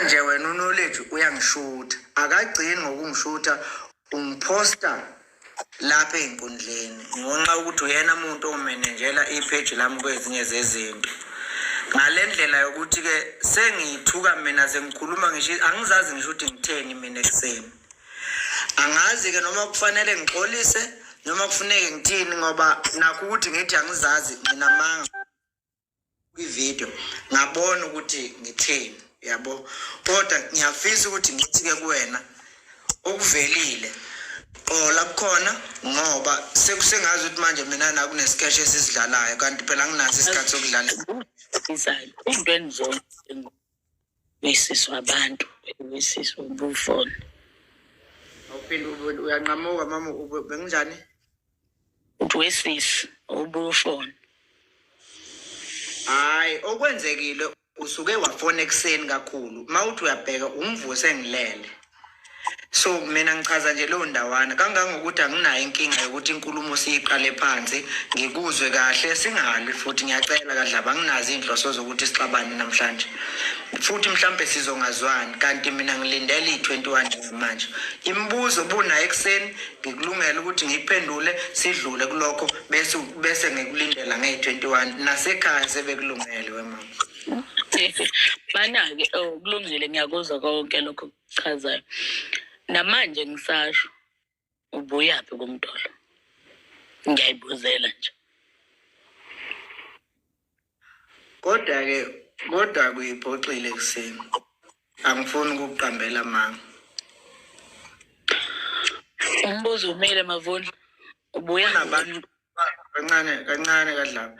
nje wena unoleji uyangishutha akagcini ngokungishutha ungiphosta lapha ey'nkundleni ngonxa ukuthi uyena muntu omenenjela ipheji lami kwezinye zezinto ngale ndlela yokuthi-ke sengiyithuka mina sengikhuluma ngisho angizazi ngisho ukuthi ngitheni mina ekuseni angazi-ke noma kufanele ngixolise noma kufuneke ngithini ngoba nakho ukuthi ngithi angizazi mina manga kwivideo ngabona ukuthi ngitheni yabo kodwa ngiyafisa ukuthi ngithi-ke kuwena okuvelile qola kukhona ngoba sekusengazi ukuthi manje mina nakunesikeshe esisidlalayo kanti phela nginaso isikhathi sokudlala into enizona Misisi wabantu, misisi ubufoni. Awuphinde ube- uyanqamuka mama ube- benginjani? Uthi wesisi ubufoni. Hayi okwenzekile usuke wafona ekuseni kakhulu. Mawuthi uyabheka ungivuse ngilele. so mina ngichaza nje leyo ndawana kangangokuthi anginayo inkinga yokuthi inkulumo siyiqale phansi ngikuzwe kahle singalwi futhi ngiyacela kadlaba anginazo iy'nhloso zokuthi sixabane namhlanje futhi mhlawumbe sizongazwani kanti mina ngilindele iyi-21 njengamanje imibuzo bunayo ekuseni ngikulungela ukuthi ngiyiphendule sidlule kulokho bese bese ngikulindela ngeyi-21 nasekhaya sebekulungele wemama Bana-ke oh, kulungile ngiyakuzwa konke lokho kuchazayo. Namanje ngisasho ubuyaphi kumdolo. Ngiyayibuzela nje. Kodwa ke kodwa kuyiphoxile kuseni. Angifuni ukuqambela manga. Umbuzo umile mavuni. Ubuya nabantu kancane kancane kadlaba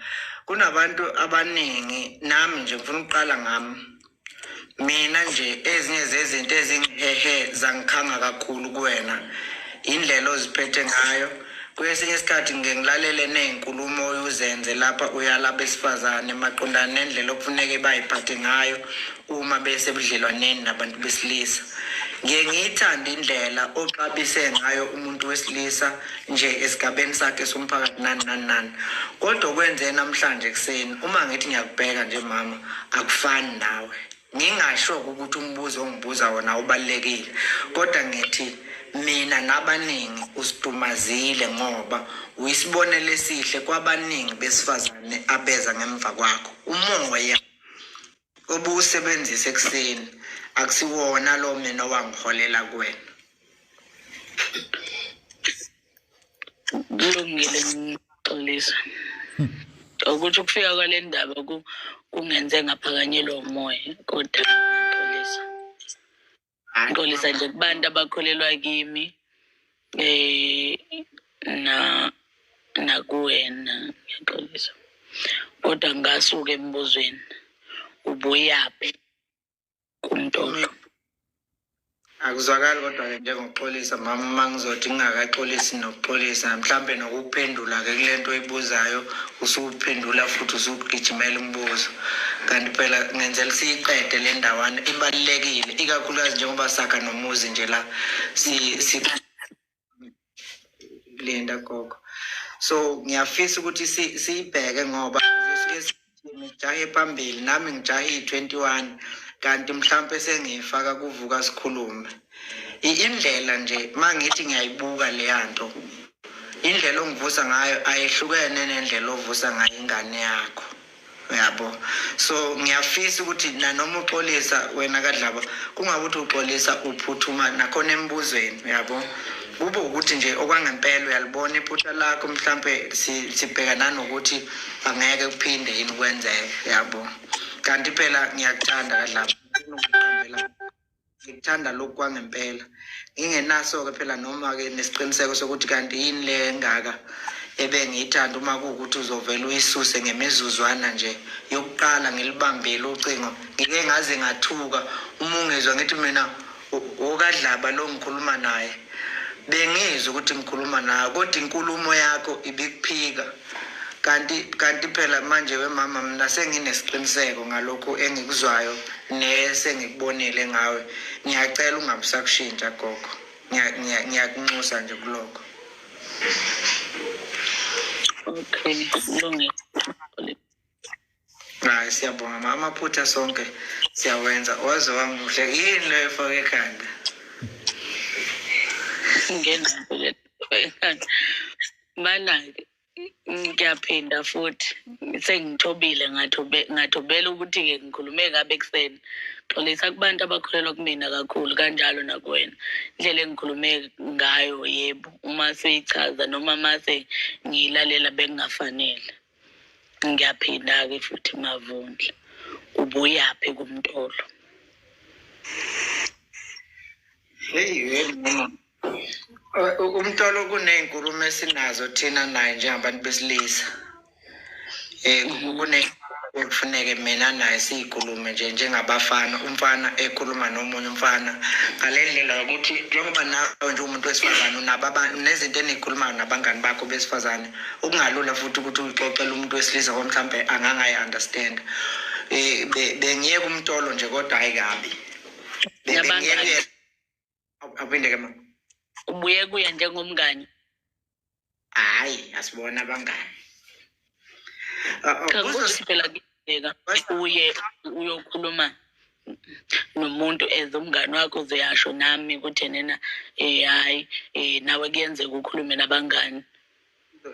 kunabantu abaningi nami nje ngifuna ukuqala ngami mina nje ezinye zezinto ezingihehe zangikhanga kakhulu kuwena indlela oziphethe ngayo kwesinye isikhathi ngike ngilalele ney'nkulumo uzenze lapha uyala besifazane maqondana nendlela okufuneke bayiphathe ngayo uma besebudlelwaneni nabantu besilisa ngiye ngiyithande indlela oxabise ngayo umuntu wesilisa nje esigabeni sakhe somphakathi nani nani nani kodwa okwenze namhlanje ekuseni uma ngithi ngiyakubheka nje mama akufani nawe ngingasho ukuthi umbuzo ongibuza wona ubalekile kodwa ngithi mina nabaningi usidumazile ngoba uyisibonelo esihle kwabaningi besifazane abeza ngemva kwakho umoya obuwusebenzisa ekuseni akusiwona lo mina owangiholela kuwena kulungile ngixolisa ukuthi ukufika kwale ndaba kungenze ngaphakanyelwa umoya kodwa Hayi, xolisa nje kubantu abakholelwa kimi eh na nakuwena ngiyaxolisa kodwa ngasuka embuzweni ubuyaphi kumtolo akuzwakali kodwa-ke njengokuxolisa mama uma ngizothi ngingakaxolisi nokuxolisa mhlawumbe nokuphendula-ke kule nto oyibuzayo usuphendula futhi usugijimela umbuzo kanti phela ngenzela siyiqede le ndawana ibalulekile ikakhulukazi njengoba sakha nomuzi nje la silinda gogo so ngiyafisa ukuthi siyibheke ngoba ngijahe phambili nami ngijahe iyi-twenty-one kanti mhlawumpe sengiyifaka kuvuka sikhulume I- indlela nje mangithi ngiyayibuka leyanto indlela ongivusa ngayo ayehlukene nendlela ovusa ngayo ingane yakho uyabo so ngiyafisa ukuthi nanoma uxolisa wena kadlaba kungabe ukuthi uxolisa uphuthuma nakhona embuzweni uyabo kube ukuthi nje okwangempela uyalibona iphutha lakho mhlampe si- sibheka nanokuthi angeke kuphinde yini kwenzeke uyabo kanti phela ngiyakuthanda kadlaba Ngifuna ukukuqambela ngikuthanda lokhu kwangempela ngingenaso-ke phela noma-ke nesiqiniseko sokuthi kanti yini le engaka ebengiyithanda uma kuwukuthi uzovele uyisuse ngemizuzwana nje yokuqala ngilibambile ucingo ngike ngaze ngathuka uma ungizwa ngithi mina okadlaba lo ngikhuluma naye bengizwa ukuthi ngikhuluma naye kodwa inkulumo yakho ibikuphika kanti kanti phela manje wemama mina senginesiqiniseko ngalokhu engikuzwayo nesengikubonile ngawe ngiyacela ungabusakushintsha gogo ngiyakunxusa nje kulokho okay kulungile hayi siyabonga ma amaphutha sonke siyawenza waze wamuhle yini leyo efake ekhanda ngenaaekhanda banake ngiyaphinda futhi sengithobile ngathobela ukuthi-ke ngikhulume kabi ekuseni xolisa kubantu abakholelwa kumina kakhulu kanjalo nakuwena indlela engikhulume ngayo yebo uma seyichaza noma mase ngiyilalela bengingafanele ngiyaphinda-ke futhi mavundla ubuyaphi kumtolo heyi umtolo kuney'nkulumo esinazo thina naye njengabantu besilisa um kufuneke mina naye siyikhulume nje njengabafana umfana ekhuluma nomunye umfana ngale ndlela yokuthi njengoba nawe nje umuntu wesifazane unabo nezinto eniyikhulumayo nabangani bakho besifazane okungalula futhi ukuthi uyixoxele umuntu wesilisa ngoba mhlawumbe angangayi understand eh bengiyeka umtolo nje kodwa hayi kabi bengiyeke aphinde ke ma ubuye kuye njengomngani hayi asibona abangani ah, ah, bheka uye uyokhuluma nomuntu as umngane wakho uzeyasho nami ukuthi enena um hhayi um nawe kuyenzeka ukhulume nabangani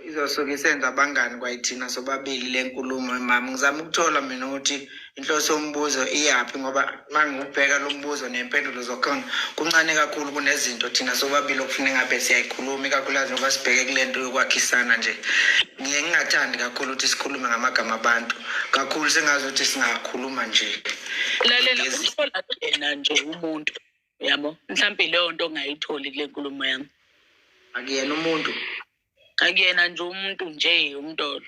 izosuke isenza abangani kwayithina sobabili le nkulumo mama ngizama ukuthola mina ukuthi inhloso yombuzo iyaphi ngoba uma ngiwubheka lo mbuzo nempendulo zokhona kuncane kakhulu kunezinto thina sobabili okufuna engabe siyayikhuluma ikakhulukazi ngoba sibheke kule nto yokwakhisana nje ngiye ngingathandi kakhulu ukuthi sikhulume ngamagama abantu kakhulu sengazi ukuthi singakhuluma nje lalela uthola yena nje umuntu yabo mhlawumbe leyo nto ongayitholi kule nkulumo yami akuyena umuntu akuyena nje umuntu nje umntolo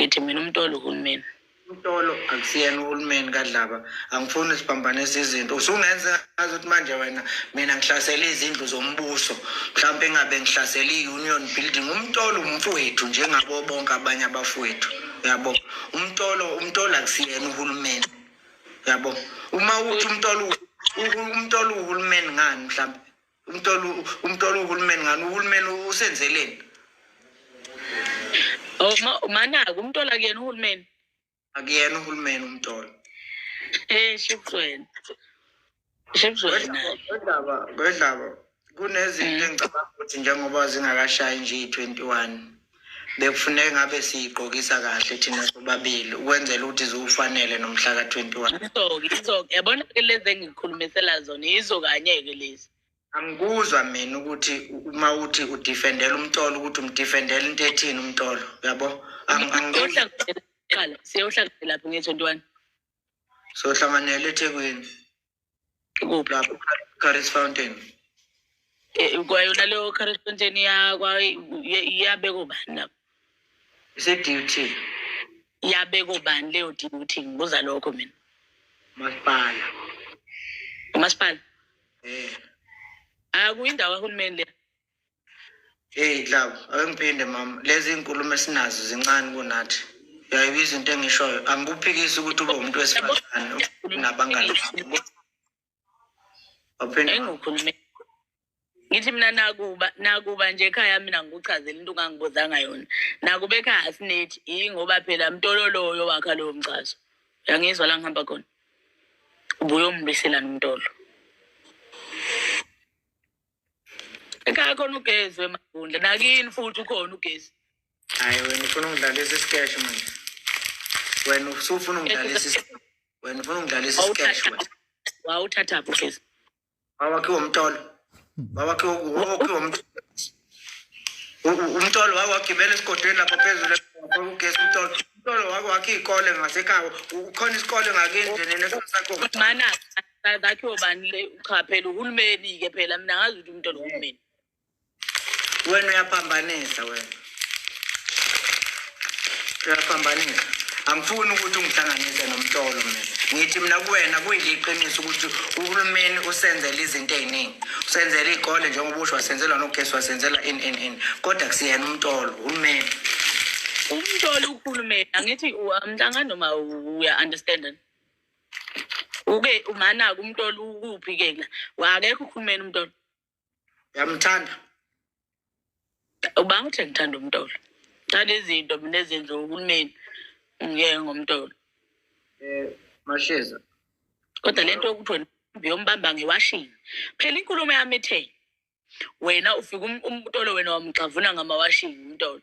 ngithi mina umtolo uhulumeni umtolo akusiyena uhulumeni kadlaba angifuni siphambanisa izinto usungenza azi ukuthi manje wena mina ngihlasele izindlu zombuso mhlawumpe engabe ngihlasele i-union building umtolo umfowethu njengabo bonke abanye abafowethu yabo umtolo umtolo akusiyena uhulumeni yabo uma uthi umtolo umtolo uhulumeni ngani mhlawumbe umtolo umtolo uhulumeni ngani uhulumeni usenzeleni oh manaka umtolo akuyena uhulumeni akuyena uhulumeni umtolo eh shipsweni shipsweni kodaba kodaba kunezinto mm. engicabanga ukuthi njengoba zingakashayi nje i-21 bekufuneka ngabe siyigqokisa kahle thina sobabili ukwenzela ukuthi ziwufanele nomhla ka-21 izoke izoke yabona ke lezi engikhulumisela zona yizo kanye-ke lezi angikuzwa mina ukuthi uma uthi udifendela umtolo ukuthi umdifendela into ethini umtolo yabo siyohlanganyelaphi nge-twenty-one sohlanganela ethekwini Ikuphi lapho? Curry's Fountain. Eh, kwayona leyo current content yakwa iyabeka ubani lapho Ise-duty. iyabeka ubani leyo duty ngibuza lokho mina Masipala. umasipala Eh. akuyindawo kahulumeni le Hey love, awengiphinde mama. Lezi inkulumo esinazo zincane kunathi. Uyayibizwa into engishoyo. Angikuphikisi ukuthi ube umuntu wesifazane nabangani. Waphinde engikhulume. Ngithi mina nakuba nakuba nje ekhaya mina ngikuchazela into ongangibuzanga yona. Nakuba ekhaya asinethi ingoba phela mtololoyo wakha lowo mchazo. Uyangizwa la ngihamba khona. Ubuye umbisela nomtolo. ekhaya khona ugezi wemagundla nakini futhi ukhona ugezi hayi wena ufuna ungidlalisa isikeshi manje wena usufuna ungidlalisa is- wena ufuna ungidlalisa isikeshi wena wawuthathaphi ugezi wawakhiwa umtolo wawakhiwa wawakhiwa umtolo U- u- umtolo wawagibela esigodweni lapho phezulu lapho ugesi umtolo umtolo wawakhe iy'kole ngasekhaya U- ukhona isikole ngakini nje nene sakho mana Ka- kakhiwe bani le cha phela uhulumeni-ke phela mina ngazi ukuthi umuntu oluhulumeni wena uyaphambanisa wena uyaphambanisa angifuni ukuthi ungihlanganise nomtolo mina ngithi mina kuwena kuyiliqiniso ukuthi uhulumeni usenzela izinto ey'ningi usenzela iy'kole njengoba usho wasenzela nogesi wasenzela in in in kodwa kusiyena umtolo uhulumeni umtolo uhulumeni angithi u- angihlangani noma uya-understanda uke umanaka umntolo ukuphi ke la wakekho ukhulumeni umntolo yamthanda ubanga ukuthi ngithanda umntolo thanda izinto mina ezenziwa uhulumeni ngiyeke ngomntolo um masheza kodwa le nto yokuthi wena uyombamba ngewashini phela inkulumo yami ithe wena ufike umtolo wena wamgxavuna ngamawashini umtolo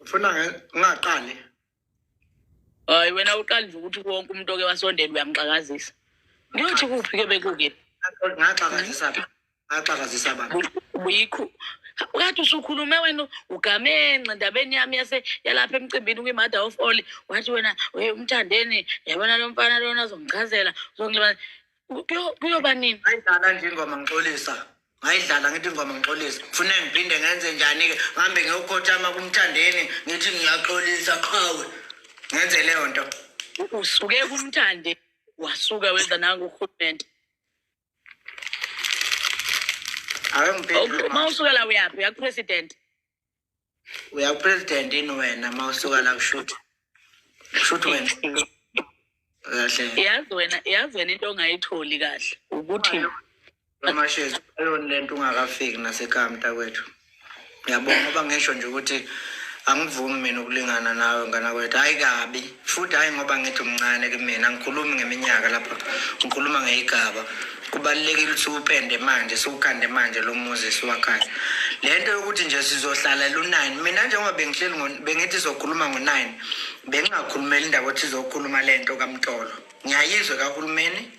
ufuna ngingaqali hayi wena uqali nje ukuthi wonke umuntu oke wasondela uyamxakazisa ngiyothi kuphi ke bekuke ngaxakazisa phi ngaxakazisa baba buyikho kade usukhulume wena ugamenxe ndabeni yami yase yalapha emcimbini kwi-mother of all wathi wena umthandeni yabona lo mfana lona uzongichazela uzongilibana Kuyo- kuyoba nini ngayidlala nje ingoma ngixolisa ngayidlala ngithi ingoma ngixolisa fune ngiphinde ngenze njani-ke ngihambe ngiyokhothama kumthandeni ngithi ngiyaxolisa qhawe ngenze leyo nto U- usuke kumthande wasuka wenza nangu urhulumente ake ngiphendule uma usuka la uyaphi uyakupresident uyakupresident ini wena ma usuka la kushuthi kushuthi wena kahle yazi wena yazi wena into ongayitholi kahle ukuthi amashezi ayona lento ungakafiki nasekhaya mntakwethu ngiyabonga ngoba ngisho nje ukuthi angivumi mina ukulingana nawe ngana kwethu hayi kabi Futhi hhayi ngoba ngithi umncane kumina, angikhulumi ngeminyaka lapha, ngikhuluma ngeyigaba. Kubalulekile ukuthi upende manje, siwukhande manje lo muzi siwakhaya. Le nto yokuthi nje sizohlala lu-nine, mina njengoba bengihleli ngo- bengithi sizokhuluma ngo-nine, bengingakhulumeli indaba yokuthi sizokhuluma le nto kamtolo. Ngiyayizwe kahulumeni,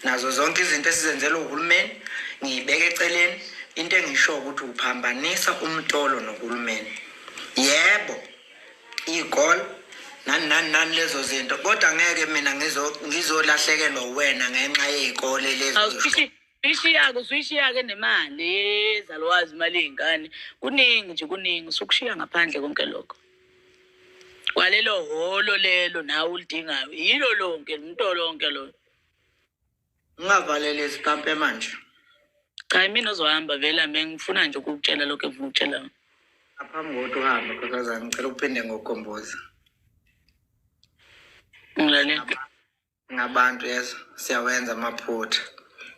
nazo zonke izinto esizenzelwe uhulumeni, ngiyibeke eceleni. Into engisho ukuthi uphambanisa umtolo nohulumeni. Yebo, igol nani nani nani lezo zinto kodwa ngeke mina ngizolahlekelwa uwena ngenxa yey'kole lezo ishiyake usuyishiyake nemali ezalwazi imali yey'ngane kuningi nje kuningi usukushiya ngaphandle konke lokho kwalelo holo lelo nawe ulidingayo yilo lonke mnto lonke lona Ungavalele izikampe manje. Cha imina ozohamba vela mina ngifuna nje ukukutshela lokho engifuna ukutshela. wena. Aphambi kokuthi uhambe nkosazana ngicela uphinde ngokukhomboza. Ngilalela. Ngabantu yeso siyawenza amaphutha.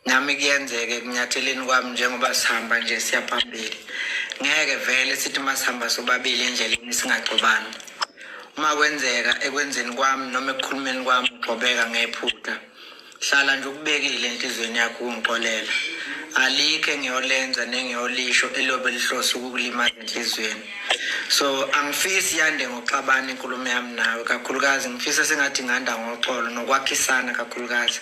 Nami kuyenzeke kunyatheleni kwami njengoba sihamba nje siya phambili. Ngeke vele sithi uma sihamba sobabili endleleni singagcobani. Uma kwenzeka ekwenzeni kwami noma ekukhulumeni kwami ugqobeka ngephutha. hlala nje ukubekile enhliziyweni yakho ukungixolela alikho engiyolenza nengiyolisho elobe lihlose ukukulimaza enhliziyweni so angifisi yande ngoxabana inkulumo yami nawe kakhulukazi ngifisa sengathi nganda ngoxolo nokwakhisana kakhulukazi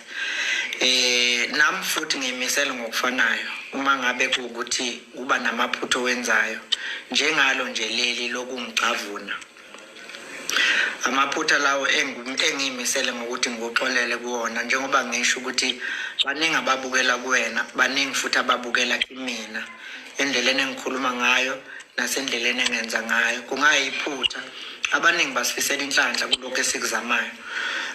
eh nami futhi ngimisele ngokufanayo uma ngabe kuwukuthi kuba namaphutha owenzayo njengalo nje leli lokungicavuna amaphutha lawo engiyimisele ngokuthi ngikuxolele kuwona njengoba ngisho ukuthi baningi ababukela kuwena baningi futhi ababukela kimina endleleni engikhuluma ngayo nasendleleni engenza ngayo kungayiphutha abaningi basifisela inhlanhla kulokhu esikuzamayo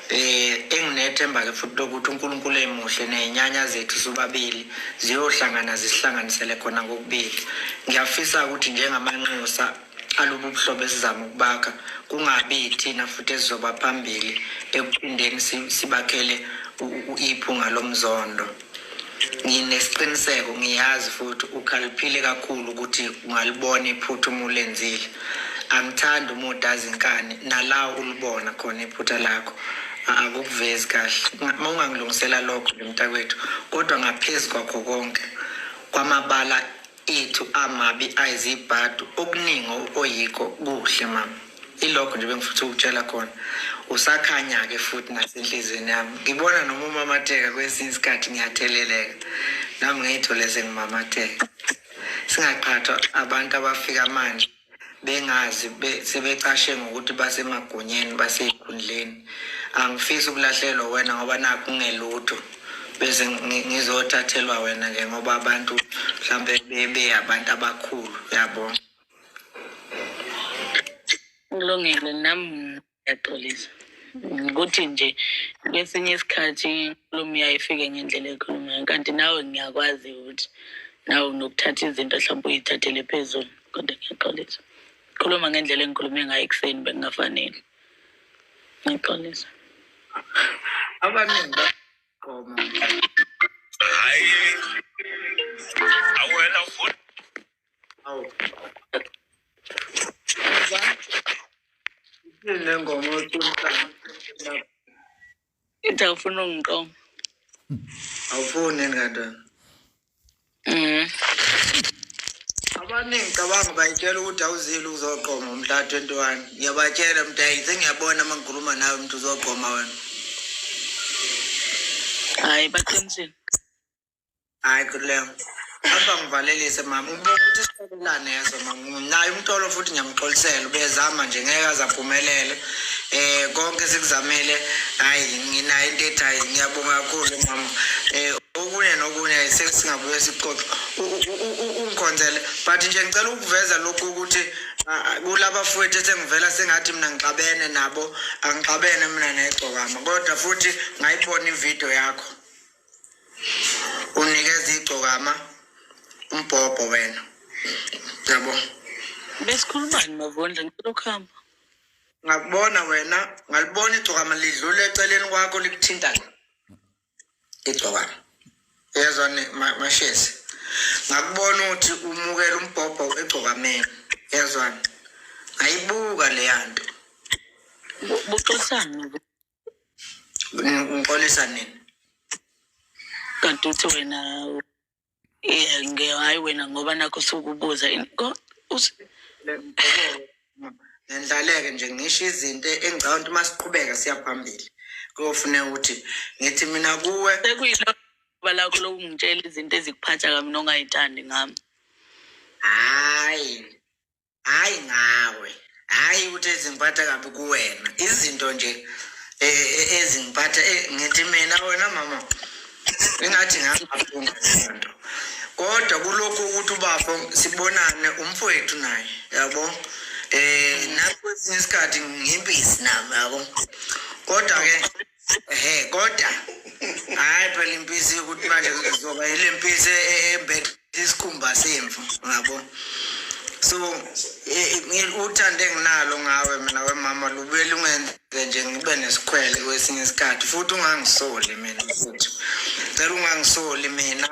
eh enginethemba ke futhi lokuthi uNkulunkulu emuhle nezinyanya zethu sobabili ziyohlangana zisihlanganisele khona kokubili ngiyafisa ukuthi njengamanxusa alobu buhlobo esizama ukubakha kungabi yithina futhi esizoba phambili ekuphindeni sibakhele iphunga lomzondo nginesiqiniseko ngiyazi futhi ukhaliphile kakhulu ukuthi ungalibona iphutha uma ulenzile angithandi uma udazi inkani nala ulibona khona iphutha lakho akukuvezi kahle uma ungangilungisela lokho mntakwethu kodwa ngaphezu kwakho konke kwamabala ethu amabi ayizibhadu okuningi oyikho kuhle mama ilokho nje bengifutha ukutshela khona usakhanya-ke futhi nasenhliziyweni yami ngibona noma umamatheka kwesinye isikhathi ngiyatheleleka nami ngiyithole sengimamatheka singaqhathwa abantu abafika manje bengazi sebecashe ngokuthi basemagunyeni basezikhundleni angifisi ukulahlelwa wena ngoba nakho ungelutho bese ngizothathelwa wena ke ngoba abantu mhlambe bebe abantu abakhulu yabo kulungile nami yaxolisa ukuthi nje kwesinye isikhathi inkulumo yayo ifike ngendlela ekhuluma ngayo kanti nawe ngiyakwazi ukuthi nawe unokuthatha izinto mhlawumbe uyithathele phezulu kodwa ngiyaxolisa khuluma ngendlela engikhulume ngayo ekuseni bekungafanele ngiyaxolisa abaningi bagqoma hayi awela futhi Awu. Nengoma oyiqoqayo. Into awufuna ungiqoma. Awufuni yini kanti wena? Mhm. Abaningi cabanga bayitshela ukuthi awuzile uzoqoma umhla 21. Ngiyabatshela mntayi sengiyabona uma ngikhuluma nawe mntu uzoqoma wena. Hayi baqinisile. hayi kuleyo apha ngivalelise mama ubona ukuthi isiqolelane yezo mama naye umtolo futhi ngiyamxolisela ubezama nje ngeke aze aphumelele eh konke sikuzamele hayi nginayo into ethi hayi ngiyabonga kakhulu mama eh okunye nokunye sesingabuye sixoxe ungikhonzele but nje ngicela ukuveza lokhu ukuthi kulaba futhi esengivela sengathi mina ngixabene nabo angixabene mina negcokama kodwa futhi ngayibona ividiyo yakho unikeza igcokama umbhobho wena yabo besikhulumani mavondla ngicela ukuhamba ngakubona wena ngalibona igcokama lidlula eceleni kwakho likuthinta igcokama yezwa mashezi ngakubona ukuthi umukela umbhobho egcokameni yezwani ngayibuka leya nto buxosana ngixolisa nini kanti uthi wena hayi wena ngoba nakho sukubuza ngendlaleke nje ngisho izinto engicabanga ukuthi uma siqhubeka siya phambili kuyofune ukuthi ngithi mina kuwe sekuyiloba lakho lokungitshela izinto ezikuphatha kami nongayithandi ngami hayi hhayi ngawe hhayi ukuthi ezingiphatha kabi kuwena izinto nje e, e, ezingiphatha e, ngithi mina wena mama ingathi ngangafunda lento kodwa kulokhu ukuthi ubafo sibonane umfowethu naye yabo eh nakwesinye isikhathi ngimpisi nami yabo kodwa ke Ehe kodwa hayi phela impisi ukuthi manje kuzoba ile mpisi e- e- embethe isikhumba semvu ngabo so e- e- ngi- uthando enginalo ngawe mina wemama lubuye lungenze nje ngibe nesikhwele kwesinye isikhathi futhi ungangisoli mina futhi cela ungangisoli mina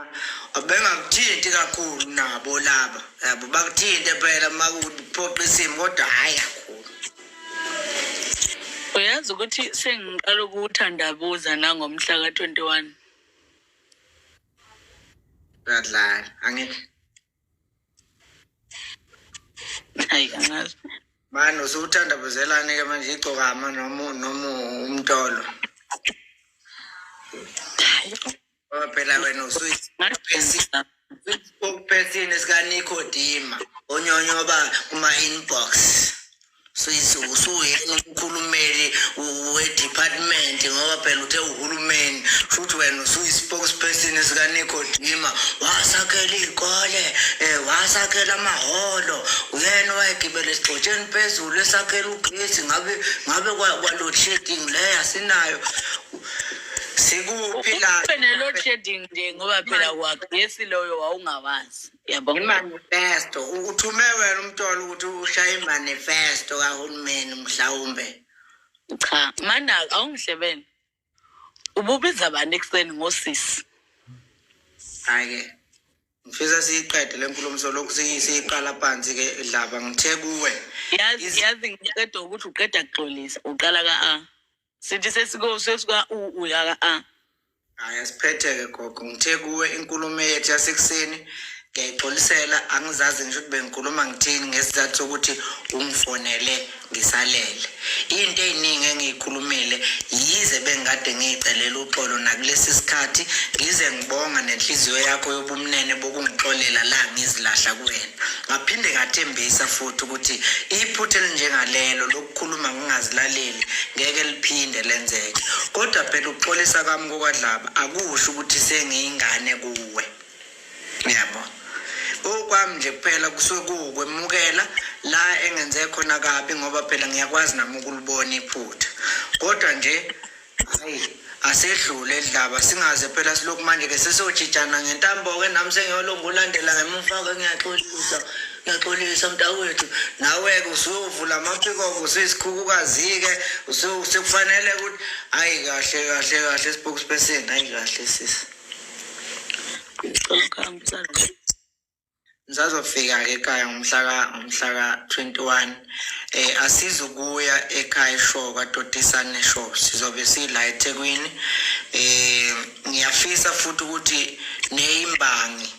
bengakuthinti kakhulu nabo laba yabo bakuthinte phela uma kuphoqa isimo kodwa hhayi kakhulu uyazi ukuthi sengiqala ukuwuthandabuza nangomhla ka-twenty one uyadlala angeke hayi angazi mani usuwuthandabuzelani-ke manje igcokama noma noma umtolo Ngoba phela wena usuyisipesina ukupesini sikaNikodima onyonyoba kuma-inbox usuyena umkhulumeli we-department ngoba phela uthe uhulumeni futhi wena usuyi-spokesperson sikanikodima wasakhela iy'kole um wasakhela amahholo uyena wayegibela esigxotsheni phezulu esakhela ugesi ngabe ngabe kwaload shedding leyo asinayo sikuphi la Ube ne-load shedding nje ngoba phela kwagesi loyo wawungawazi. Yabona. imanifesto uthume wena umtolo ukuthi ushaye imanifesto kahulumeni mhlawumbe Cha, mana awungihlebene. Ububiza abantu ekuseni ngosisi. hhayi-ke ngifisa siyiqede le nkulumo solokhu siyi- siyiqala phansi ke dlaba ngithe kuwe Yazi Is- yazi ngiqeda ukuthi uqeda kuxolisa, uqala ka A. sithi sesiko sesika u u yaka a hhayi asiphetheke gogo ngithe kuwe inkulumo yethu yasekuseni ngiyayixolisela angizazi ngisho ukuthi bengikhuluma ngithini ngesizathu sokuthi ungifonele ngisalele into ey'ningi engiyikhulumile yize bengikade ngiyicelela uxolo nakulesi sikhathi ngize ngibonga nenhliziyo yakho yobumnene bokungixolela la ngizilahla kuwena ngaphinde ngathembisa futhi ukuthi iphutha elinjengalelo ukukhuluma ngingazilaleli ngeke liphinde lenzeke kodwa phela ukuxolisa kwami kokwadlaba akusho ukuthi sengiyingane kuwe ngiyabo okwami nje kuphela kusuke kuwukwemukela la engenze khona kabi ngoba phela ngiyakwazi nami ukulibona iphutha kodwa nje Hey, asedlule edlaba singaze phela silokhu manje ke sesojijana ngentambo ke nami sengiyolomba ulandela ngemuva ke ngiyaxolisa ngiyaxolisa mntakwethu nawe-ke usuyovula amaphikoko usuyisikhukukazi-ke sekufanele ukuthi hayi kahle kahle kahle spokesperson hayi kahle sisi ngisazofika-ke ekhaya ngomhlaka ngomhlaka 21 eh asizukuya ekhaya isho kwadotisa nesho sizobe sila eThekwini eh ngiyafisa futhi ukuthi neyimbangi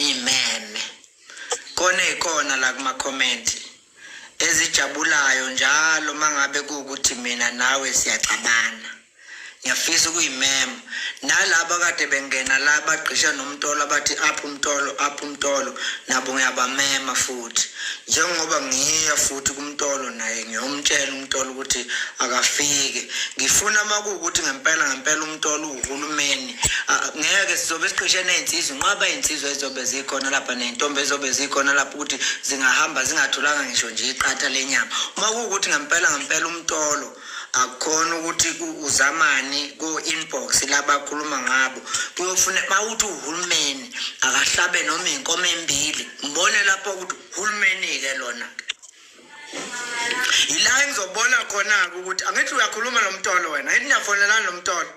imeme kona ikona la kuma comment ezijabulayo njalo mangabe kuwukuthi mina nawe siyaxabana ngiyafisa ukuyimema nalaba kade bengena la bagqisha nomtolo abathi up umtolo up umtolo nabo ngiyabamema futhi njengoba ngiya futhi kumtolo naye ngiyomtshela umtolo ukuthi akafike ngifuna makuwukuthi ngempela ngempela umtolo uhulumeni Ah, ngeke sizobe siqishe ney'nsizwa inqwaba iy'nsizwa ezizobe zikhona lapha ney'ntombi ezizobe zikhona lapha ukuthi zingahamba zingatholanga ngisho nje iqatha lenyama uma kuwukuthi ngempela ngempela umtolo akukhona ukuthi uzamani ko-inbox labakhuluma ngabo kuyofuna uma ukuthi uhulumeni akahlabe noma iy'nkomo embili ngibone lapho ukuthi uhulumeni-ke lona-ke yila engizobona khona-ke ukuthi angithi uyakhuluma lo mtolo wena ngithi niyafonelani lo mtolo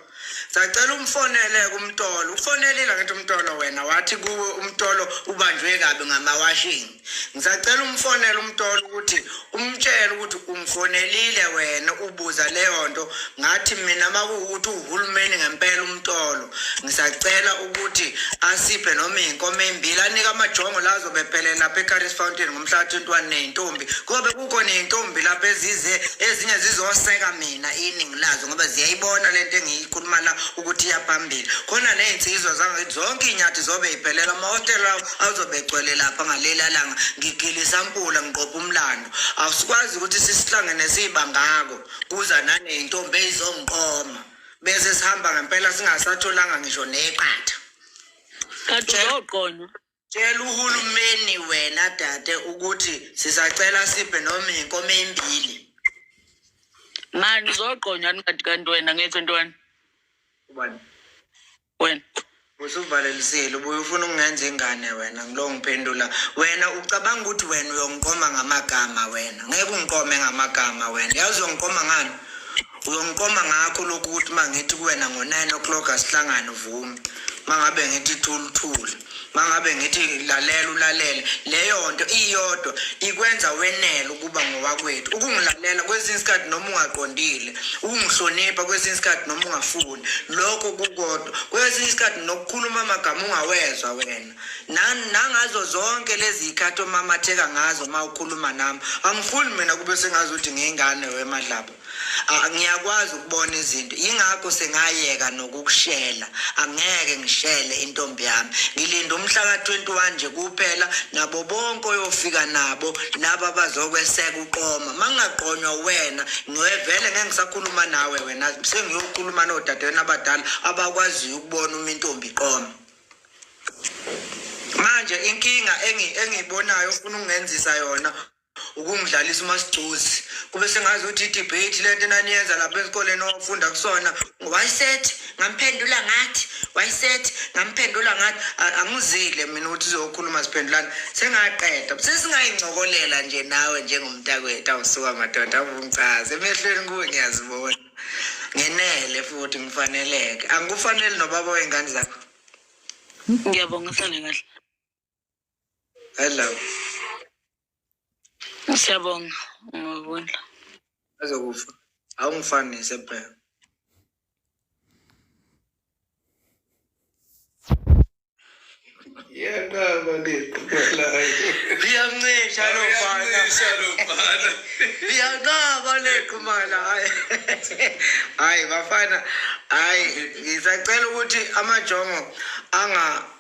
sacela umfonele kumtolo ufonelile ngithi umtolo wena wathi kuwe umtolo ubanjwe kabi ngamawashing ngisacela umfonele umtolo ukuthi umtshele ukuthi ungifonelile wena ubuza leyo nto ngathi mina makuwukuthi uhulumeni ngempela umtolo ngisacela ukuthi asiphe noma iy'nkomo ey'mbili anike amajongo la azobe ephelele lapha ecaris fountain ngomhla ka-21 ney'ntombi kobe kukho ney'ntombi lapha ezize ezinye zizoseka mina iningi lazo ngoba ziyayibona le nto engiyikhuluma la ukuthi iyaphambili khona ney'nsizwa zangakithi zonke iy'nyathi zobe y'phelela amahostela lawo azobe egcwele lapha ngaleli alanga ngigile isampula ngiqopha umlando asikwazi ukuthi sisihlangene siyibangako kuza naney'ntombi ey'zongiqoma bese sihamba ngempela singasatholanga ngisho neqatha kanti uzoqona tshela uhulumeni wena dade ukuthi sisacela siphe noma inkomo embili mani uzoqonyani kanti kanti wena ngithi ntwana ubani wena usuvalelisile ubuye ufuna ukungenza ingane wena ngilo ngiphendula wena ucabanga ukuthi wena uyongiqoma ngamagama wena ngeke ungiqome ngamagama wena yazi uyongiqoma ngani uyongiqoma ngakho lokhu ukuthi uma ngithi kuwena ngo-nine o'clock asihlangane uvume uma ngabe ngithi thuluthule mangabe ngithi lalela ulalele leyo nto iyodwa ikwenza wenele ukuba ngowakwethu ukungilalela kwesinye isikhathi noma ungaqondile ukungihlonipha kwesinye isikhathi noma ungafuni lokho kukodwa kwesinye isikhathi nokukhuluma amagama ungawezwa wena nangazo zonke lezi y'khathi omamatheka ngazo uma ukhuluma nami angifuni mina kube sengazi ukuthi ngiyingane wemadlaba Ah, ngiyakwazi ukubona izinto yingakho sengayeka nokukushela angeke ngishele intombi yami ngilinda umhla ka-21 nje kuphela nabo bonke oyofika nabo laba bazokweseka uqoma ma ngingaqonywa wena ngivele ngeke ngisakhuluma nawe wena sengiyokhuluma nodadewenu abadala abakwaziyo ukubona uma intombi iqoma manje inkinga engiyibonayo ufuna ukungenzisa yona ukungidlalisa umasigcozi kube sengazi ukuthi idebate le nto enaniyenza lapha esikoleni owafunda kusona wayisethi ngamphendula ngathi wayisethi ngamphendula ngathi angizile mina ukuthi uzokhuluma siphendulana sengaqeda sesingayincokolela nje nawe njengomntakwethu awusuka madoda avungichaze emehlweni kuwe ngiyazibona ngenele futhi ngifaneleke angikufanele nobaba wey'ngane zakho ngiyabonga sale kahle Adlala. Siyabonga ngokudla. Azokufa. Awungifani sephela. Yanqaba leqhubelayo. Liyancisha lo bana. Liyancisha lo bana. Liyanqaba leqhumala. Hayi bafana. Hayi ngisacela ukuthi amajongo anga